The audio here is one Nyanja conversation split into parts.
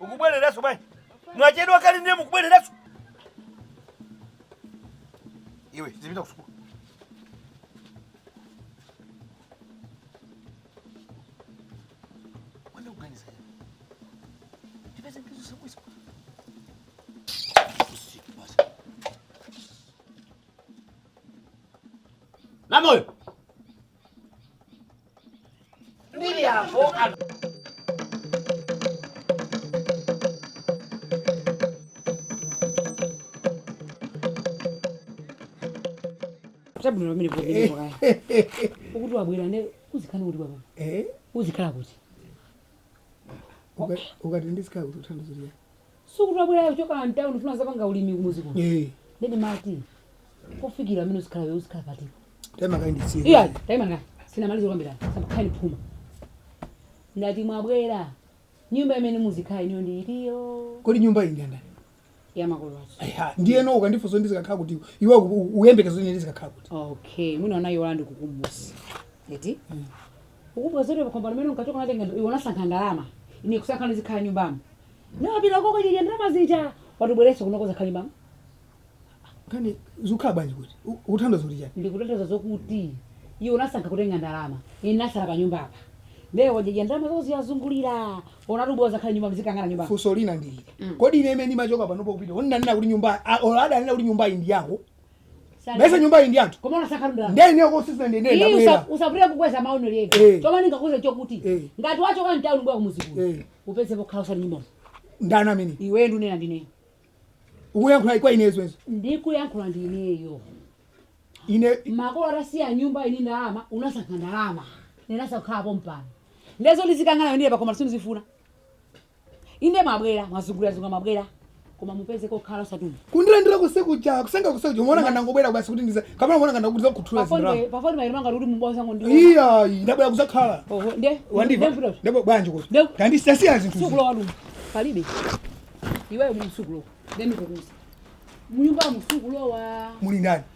ukubwereranso bwanji mwachedwa kale ndiye mukubwereranso iwe zipita kusukulu Wanda kuganiza yeye. Tipeze njezo siku siku. Usiku basi. Namoyo. Mbiri yavo Tabwino pamene kuti ndipo kaya. Ukuti wabwera ne uzikhala kuti baba. Eh, Uzikhala kuti. uka- ukati ndizikhala kuti uthandizira sukuti wabwerayo kuchokera mtauni ndifuna zapanga ulimi kumuzi kuno eh ndiye ndimati kofikira amene uzikhala uzikhala pati taima kaye nditsirize taima kaye sindinamalize kuyambira osamakhala ndi phuma ndati mwabwera nyumba imene muzikhala inuyo ndi itiyo kodi nyumba iyi ndandani ya makolo athu Eya, ndiyeno ukandifunsa ndizikakhala kuti iwe uyembekeza kuti ndizikakhala kuti okay mwina unaiwala ndikukumbuse eti ukumbuka zoti pakhomo mmene unkachoka natenga iwe unasankha ndalama ine kusankha ndizikhala nyumbamo napita koko kadya ndalama zija wati ubwereso kuno kuzakhala nyumba kapena uzikhala bwanji kuti U- ukutanthauza kuti chani ndikutanthauza zokuti iwe unasankha kutenga ndalama ine nasala pa nyumba apa ndiye wadya ndalama zakozo wazungulira wati ubwere uzakhala nyumba tizikanganira nyumba funso lina ndili kodi ine mmene ndimachoka panopo kupita ananena kuti nyumba a- or adanena kuti nyumba iyi ndi yako Sali- bwenzi nyumba iyi ndi yathu koma unasankha ndalama ndiye ine sisi ndiye Iyi ndabwera usa- usabwere kukweza mawu Eh. ine chomwe ndingakuuze chokuti Eh. ngati wachoka mtauni kubwera kumuzi kuno Eh. upeze pokhala osati nyumba ndani amene iweyo ndunena ndineyo ukuyankhula kwa ine zoona izo ndikuyankhula ndineyo ine makolo atasiya nyumba ndi ndalama unasankha ndalama ine nasankha kukhala pompano ndiye zoti tizikangana ndiye pano sindizifuna Inde mwabwera, mwazungulirazungulira mwabwera, koma mupeze kokhala osati muno. Kundilandira konse kuja, kuseka konse kuja, umaona ngati ndangobwera basi kuti ndize, kapena umaona ngati nangoti ndizakhuthule zinthu Pafoni lako. pafoni paja ndimangoti kuti mubwera kungondiona. Iyayi, ndabwera kuzakhala. Oho, nde Wandimva? nde vuto. Ndabwera bwanji kuti? Ndeu- Wandisiyira zinthu. Sukulowa tu. Palibe. Iwe umu sukulowa. Nde ndikukuuza. Munyumba mu sukulowa. Muli ndani?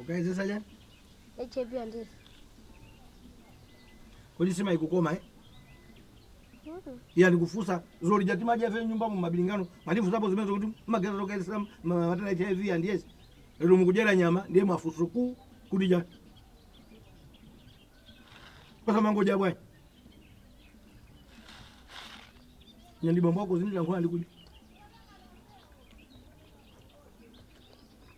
Ukayezesa chani? HIV and AIDS. Kodi sima ikukoma eh? Mm. Iya ndikufunsa dzulo lija timadya ife nyumba mu mabilingano. Munatifunsapo zimenezo kuti mayeza zokayezesa matenda HIV and AIDS. Lero mukudyera nyama ndiye mafunso kuti chani? Basi muzingodya bwana. Ine ndi bambo wako zimita nkhwana ndikudi.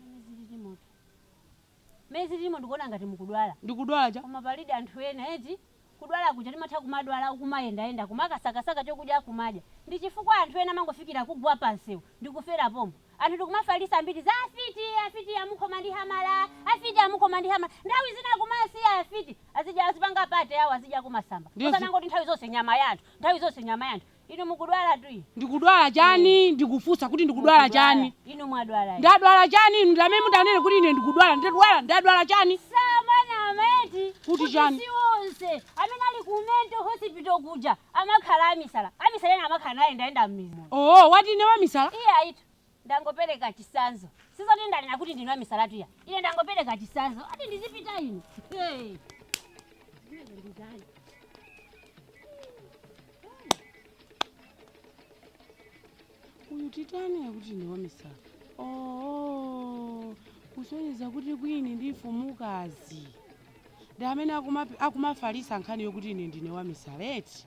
Mmene zililimotu. Mmene zililimo ndikuona ngati mukudwala. Ndikudwala cha? Koma palidi anthu ena eti. Kudwala kuja timatha kumadwala ukumayendayenda kumakasakasaka chokudya kumadya. Ndichifukwa anthu ena amangofikira kugwa pansewu ndikufera pompo. Anthu ndikumafalitsa mbiri za afiti! Afiti amukhoma ndi hamala! Afiti amukhoma ndi hamala! Nthawi zina kumasiya afiti azidya azipanga party yawo azidyako kumasamba. Ndizo. Osanangoti nthawi zonse nyama ya anthu, nthawi zonse nyama ya anthu. Inu mukudwalatu? Ndikudwala Ine. chani? Ndikufunsa kuti ndikudwala Mukudwala. chani? Inu mwadwala eti? Ndadwala chani? Inu ndi amene mudanene kuti ine ndikudwala. Ndadwala? Ndadwala chani? Samanama eti? Kuti Kuti chani? si onse amene ali ku mental hospital kuja amakhala amisala. Amisala ena amakhala nayendayenda m'mizi muno. Ooo, wati ine wamisala? Iya ayitu. Ndangopereka chitsanzo. Sikuti ndanena kuti ndinu amisalatu iya. Ine ndangopereka chitsanzo. Ati ndizipita ine. Hey. uyu titani akuti ine wamisala oo kusonyeza kuti kwini ndi mfumukazi ndi amene akuma- akumafalisa nkhani yokuti ine ndine wamisala eti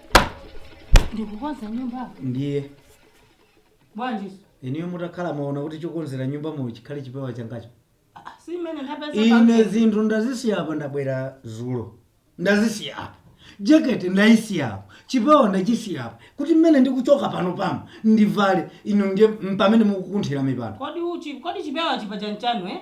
ndikukonza nyumba ndiye bwanjiso inuyo mutakhala mwaona kuti chokonzera nyumba muno chikhale chipewa changacho si mmene ndapeza ine pamene. zinthu ndazisiya apa ndabwera zulo ndazisiya apa jekete ndayisiya apa chipewa ndachisiya apa kuti mmene ndikuchoka pano pano ndivale inu ndiye mpamene mukukunthira mipando kodi uchi kodi chipewa chipewa chanucho eh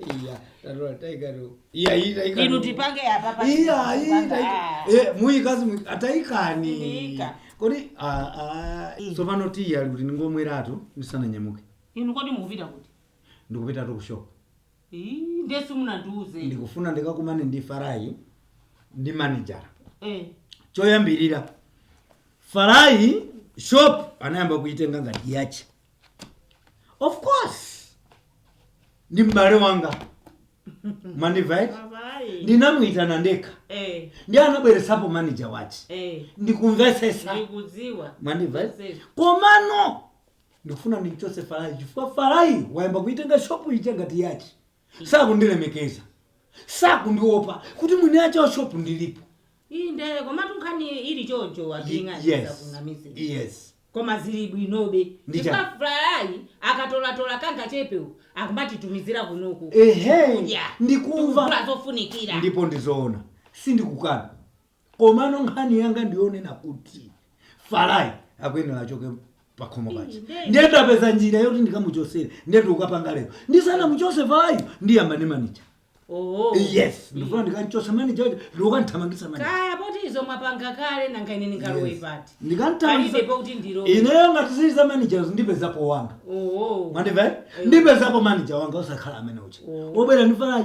iya tatola taikani iya iyi taikani inu tipange apa pa- iya iyi tipange, taika ah. eh mkazi mu- ataikani Ndiika. kodi ah, ah, tsopano tiyi ali kuti ndingomweratu ndisananyamuke inu kodi mukupita kuti ndikupitatu kushopu Ii, ndiye simunandiuze ndikufuna ndikakumane ndi farayi ndi manager Eh, choyambirira farayi shop wayamba kuitenga ngati yache of course ndi m'bale wanga mwandimva eti Abayi. ndinamuyitana ndekha Eh, ndipo anabweretsapo manager wache eh, ndikumvesesa ndikudziwa. mwandimva eti Message. komano ndikufuna ndimchose farayi chifukwa farayi wayamba kuitenga shopu ija ngati yache sakundilemekeza sakundiopa kuti mwini ache wa shop ndilipo inde komatu nkhani ili choncho Ye- wabing'ani yes sakunamizira yes koma zili bwinobe Ndi chani? chifukwa farayi akatolatola kangachepewo akumatitumizira kunoku ehe Kudya. ndikumva Tikugula zofunikira ndipo ndizoona sindikukana komano nkhani yanga ndiyonena kuti farai akuyenera achoke pakhomo paja ndiye tapeza njira yoti ndikamuchosere ndiye ndikukapanga lero ndisanamuchose farayu ndiyamba ndi manija yes ndifuna ndikanchose manija uja ndikukanthamangisa manija kaya poti izo mwapanga kale nanga ine ndingalowe pati Ndikanthamangisa- palibe pakuti ndilowe ineyo ngati zili za manijers ndipezapo wanga oho mwandive ndipezapo manija wanga osakhala amene uche obwera ndi farayi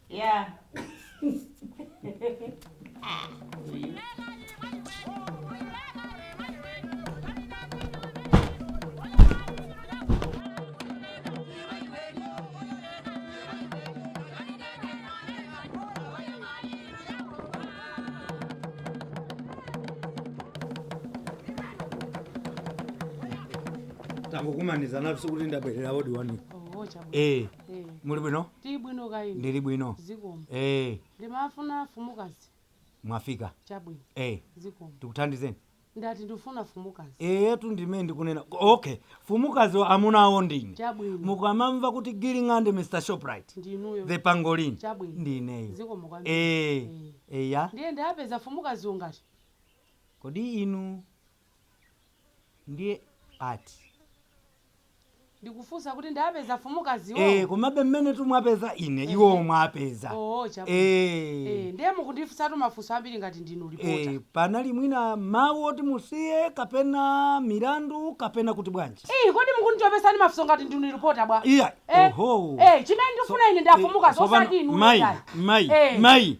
Yeah. tangokumanizana nafusi kuti ndabwerera wodi wanu Oh, chabwino. eh Eh, muli bwino tili bwino kaya inu ndili bwino zikomo eh ndimafuna fumukazi mwafika chabwino eh zikomo tikuthandizeni ndati ndifuna fumukazi eyetu ndimene ndikunena okay fumukazi wa amuna awo ndine chabwino mukamamva kuti giling'ande mr shoprite ndinuyo the pangolin Chabwino. ndineyo zikomo kwambiri eh Eh. eya ndiye ndapeza fumukazi ngati kodi inu ndiye ati ndikufunsa kuti ndapeza mfumukazi wo eh, komabe mmene mwapeza ine Eh. iwo mwapeza oo chabu Eh, Eh, ndiye mukundifunsatu mafunso ambiri ngati ndinu eh, lipota panali mwina mawu oti musiye kapena milandu kapena kuti bwanji iyi kodi mukunditopesani mafunso ngati ndinu lipota bwa iya Eh, oho eh, chimene ndifuna ine nda fumukazi osati inu mai mai Eh. mai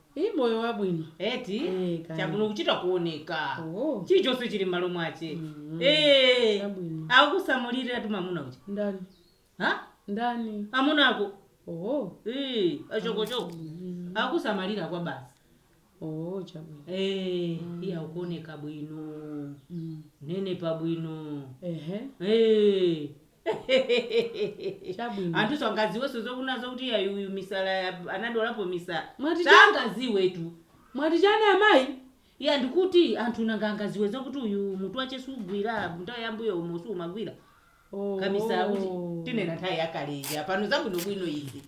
Ii moyo wabwino. Eti Eh, kaya. chakuno kuchita kuoneka Oh. chilichonse chili m'malo mwache Mm. Eh, Chabwino. akusamaliratu mamuna uja Ndani? ha Ndani? amuna ako Oh. Eh, achokochoko Mm. akusamalira kwabasi Oh, chabwino. Eh, iye akuoneka bwino Mm. nde ne pabwino Ehe. Eh, Chabwino. anthu sangaziwenso zokuna zakuti ayi uyu misala ya- anadwalapo misala Mwati cha- sangaziwetu mwati chani amayi ya ndikuti anthu nanga angaziwe zokuti uyu mutu wache sugwira nthawi yambuyo umo sumagwira Oh. kamisala kuti tikunena nthawi yakaleja pano zabwinobwino izi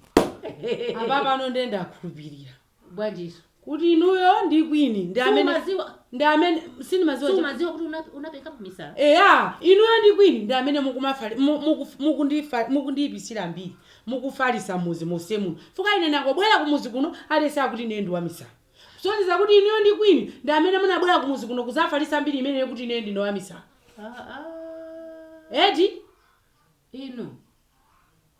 apapano nde ndakhulupirira bwanjiso kuti inuyo ndi kwini ndi amene sumaziwa ndi amene sindimaziwa cha- sumaziwa kuti una- unapekapo misala eya inuyo ndi kwini ndi amene mukumafali- mu- muku- mukundifa- mukundiyipisira mbiri mukufalisa muzi mose muno chifukwa ine nangobwera kumuzi kuno aliyense akuti ine ndi wamisala kusonyeza kuti inuyo ndi kwini ndi amene munabwera kumuzi kuno kuzafalisa mbiri imeneyo kuti ine ndine wamisala Ah, ah. eti inu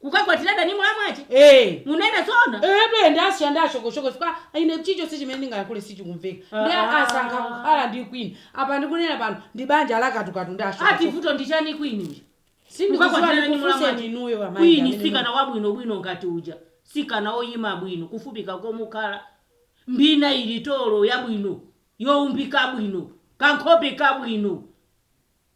Kukakwatira Dani mlamu wache? Ee. Munena zoona? Eetu ndasiya ndi a Shokoshoko chifukwa ine chilichonse chimene ndingayankhule sichikumveka nde Aaa. asankha kukhala ndi queen apa ndikunena pano ndi banja la katukatu ndi Ati a Shokoshoko vuto ndi chani queen uja? sindikuziwa Kukakwatira Dani ndikufunseni mlamu wache? inuyo amayi ndi Queen amene muli sikana wabwino bwino ngati uja. Sikana oyima bwino kufupika komukhala. Mbina ili tolo yabwino, youmbika bwino, kankhope kabwino.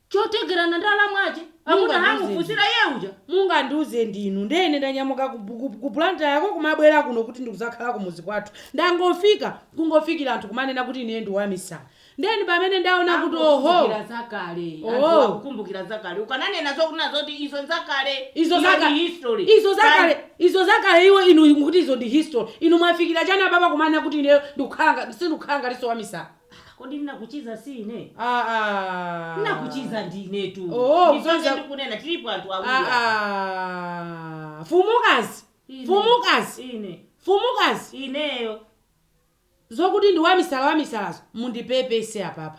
chotengerana ndi alamu ache akuti Mungandiuze anamufunsira iye uja mungandiuze ndinu ndiye ine ndanyamuka ku, ku, ku Blantyre ko kumabwera kuno kuti ndikudzakhala kumuzi kwathu ndangofika kungofikira anthu kumanena kuti ine ndi wamisala ndeni pamene ndaona kuti oho Akukumbukira zakale Oh. anthu akukumbukira zakale ukananena zokunena zoti izo zakale izo Iyo zakale ndi history izo zakale izo zakale iwo inu mukuti izo ndi history inu mwafikira chani apapa kumanena kuti ine ndikukhala nga- sindikukhala ngatinso wamisala Ah, kodi nnakuchiza si ine? Ah, ah. Nnakuchiza ndi inetu. Oh, Ndipake kucheza- ndikunena tilipo anthu awiri. apa. Ah, ah. Fumukazi. Ine. Fumukazi. Ine. Fumukazi. Ineyo. Zokuti ndi wamisala wamisalazo mundipepese apapa.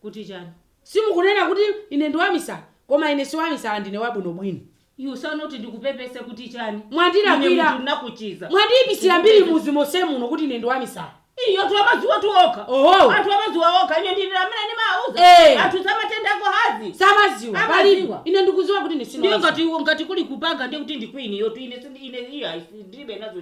Kuti chani? Simukunena kuti ine ndi wamisala, koma ine si wamisala ndine wabwinobwino. Ukufuna kuti ndikupepese kuti chani? Ine Mwandilakwira. munthu ndinakuchiza. Mwandiipisira mbiri Ndikupepese. m'mudzi monsemu uno kuti ine ndi wamisala. Iyo anthu amadziwatu okha. Oho. Anthu amadziwa okha. Ine ndine amene ndimawauza. Eh. Anthu samatenda ako hazi. Samadziwa. Amadziwa. Palibe. Ine ndikudziwa kuti ine sine Ndiye wamisala. ngati ngati kuli kupanga ndiye kuti ndi Queen yotu ine sindi- ine iya ndilibe nazo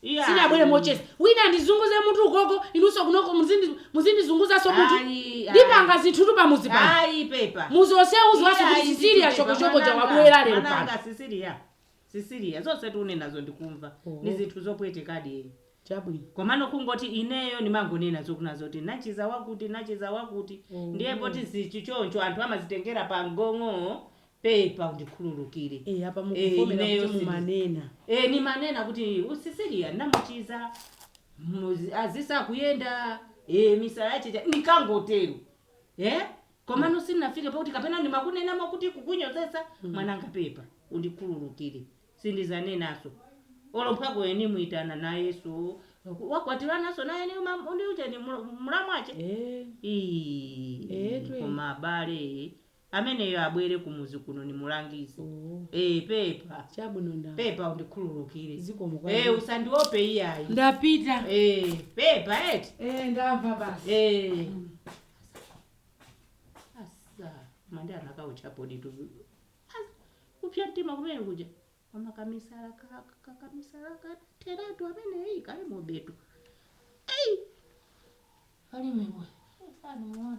Sindinabwere Iyayi. mocheza. Wina andizunguze mutu ukoko, inunso kunoko muzindi- muzindizunguzanso mutu. Ayi, ayi. Ndipanga zinthutu pamudzi pano. Ayi pepa. Mudzi wonsewu udziwanso kuti Iyayi, Cecilia ndithu pepa, Shokoshoko uja mwananga, wabwera lero pano. mwananga, Cecilia. Cecilia, zonse ukunenazo ndikumva. Oho. Ni zinthu zopwetekadi eni. Chabwino. komano kungoti ineyo ndimangonena zokunena zoti nachiza wakuti nachiza wakuti Oh. ndiye poti zili choncho anthu amazitengera pa mgong'o pepa undikhululukire e apa Eh, mukuvomera ineyo kuti sindi- mumanena e nimanena kuti Cecilia namuchiza muzi- anasiya kuyenda e misala yache nikangotero e komano sinnafike poti kapena nimakunenamo kuti kukunyozesa mwananga pepa undikhululukire sindizanenaso olomphako eni muitana na Yesu wakwatiranaso naye ndi ujeni mulamu ache Eh, Ii, Etu. koma abale Ameneyo abwere kumuzi kuno nimulangize. Oh. Eh, pepa. Chabwino ndamva. Pepa undikhululukire. Zikomo kwa Eh, iye. usandiope iyayi. Ndapita. Eh, pepa eti. Eh, ndamva basi. Eh. Asa, mande anakauchapo ndithu. Asa, kupsa mtima kumene kuja. Mama kamisala ka- ka- kamisala kateratu amene eyi kalimobetu. Eyi. Kali mwe. Sani muone.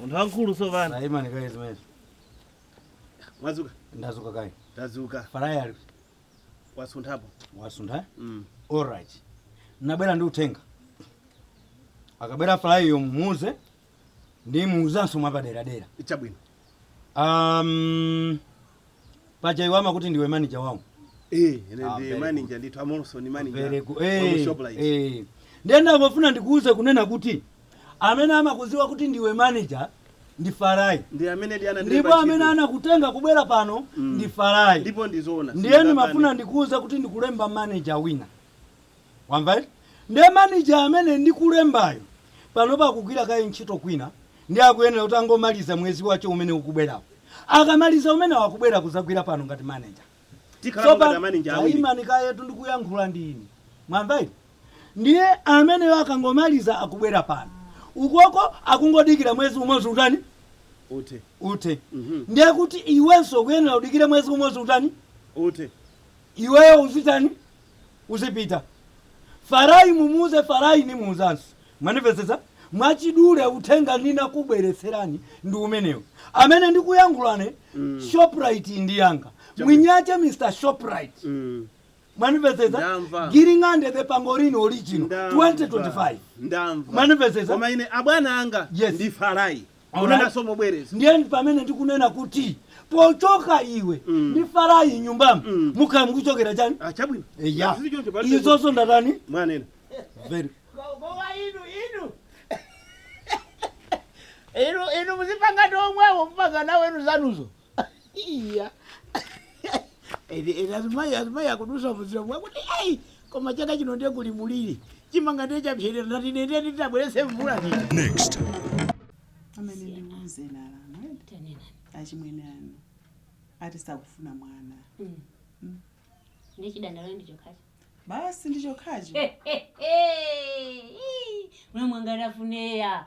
munthu wamkulu sopano taimani kaye zimenezo mwadzuka ndadzuka kaye tadzuka farai ali wasunthapo wasuntha mm. alright nabwera ndi uthenga akabwera farai uyo mumuuze ndimuuzanso mwapaderadera chabwino um, paja iwe amakuti ndiwe manager wawo eh, ah, ndi manager ndithu mmenemonso ni manager eh, eh. ndiye ndangofuna ndikuuze kunena kuti amene amakuziwa kuti ndiwe manager ndi farai ndipo amene anakutenga kubwera pano mm. ndi farai ndiye ndimafuna ndikuuze kuti ndikulemba manager wina wamva eti nde manager amene ndikulembayo panopa akugwira kaye ntchito kwina nde akuyenera kuti angomaliza mwezi wake umene ukubwerawo akamaliza umenewo akubwera kuzagwira pano ngati manager Tikhalapo Sopa- ngati amaninja awiri. tayimani kayetu ndikuyankhula ndi ine mwamva eti ndiye ameneyo akangomaliza akubwera pano ukoko akungodikira mwezi umodzi utani Uthe. uthe Mhm. ndiye kuti iwenso ukuyenera udikire mwezi umodzi utani Uthe. iweyo uzitani uzipita. Farai mumuuze Farai nimuuzanso. Mwanimvetsetsa? Mwachidule uthenga ndinakubweretserani ndi umenewo. Amene ndikuyankhulane Shoprite ndi yanga. Mwini wache Mr. Shoprite. Mm. Mwanimvetsetsa? Ndamva. Giring'ande the Pangolin original Ndamva. 2025. Ndamva. Mwanimvetsetsa? Koma ine abwana anga Yes. ndi Farai. Akunenanso mobwereza. Ndiye pamene ndikunena kuti pochoka iwe mm. ndi Farai nyumbamu mm. mukhala mukuchokera chani? Ah, chabwino. Eya. Izozo ndatani? Mwanena. Very. Koma inu inu. Inu inu muzipanga ndi omwewo mupanga nawo inu zanuzo. iya ine ine azimayi azimayi akudutsa munjiramo kuti ai koma chaka chino ndiye kuli muliri chimanga ndiye chapserera ndati ine nde nditabweretse mvula ndiye Next. amene andiuze nalama achimwene anu ati sakufuna mwana nde chidandaulo ndi chokhacho basi ndichokhacho mwe mwangalafune ya